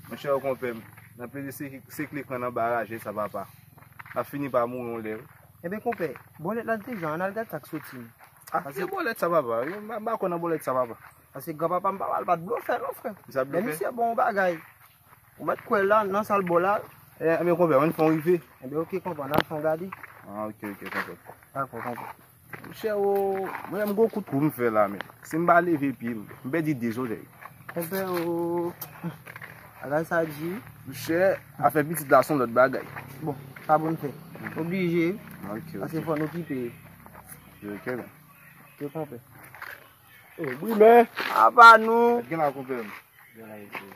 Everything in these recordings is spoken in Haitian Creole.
Mon cher konpè m, nan peze se kle kran nan baraje sa papa. Nap fini pa mouri yon lè wi. Enben konpè, bòlèt la dejan an al gad sak soti an. Ah ki bòlèt sa papa, m pa kwè nan bòlèt sa papa. Pase gran papa m pa pral bat blofè non frè. Ki sa blofè? Lè misye bon yon bagay. Ou mèt kwè la nan sal bo la. Enben konpè, ann fon rive. Enben ok konpè, ann al fon gade. Ah ok ok konpè. Dakò konpè. Chèro, mwen menm gwo kout kou m fè la men, si m pa leve pye m, m pèdi 2 zòrèy. Konpè o, bagay sa di wi. Chè, afè pitit la son lòt bagay. Bon, sa pou n fè? Oblije, pase fò n okipe yo. Ok men. Ok konpè. Wi men. Apa nou? Gen la konpè m. Gen la mesye.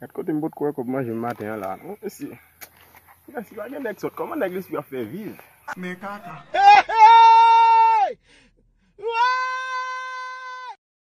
Gad kote m potko wè kòb manje m maten an la a non mesi Mèsi pa gen nèg sòt kòman nèg lespri ap fè viv men kaka. Heeyy! Wooyy!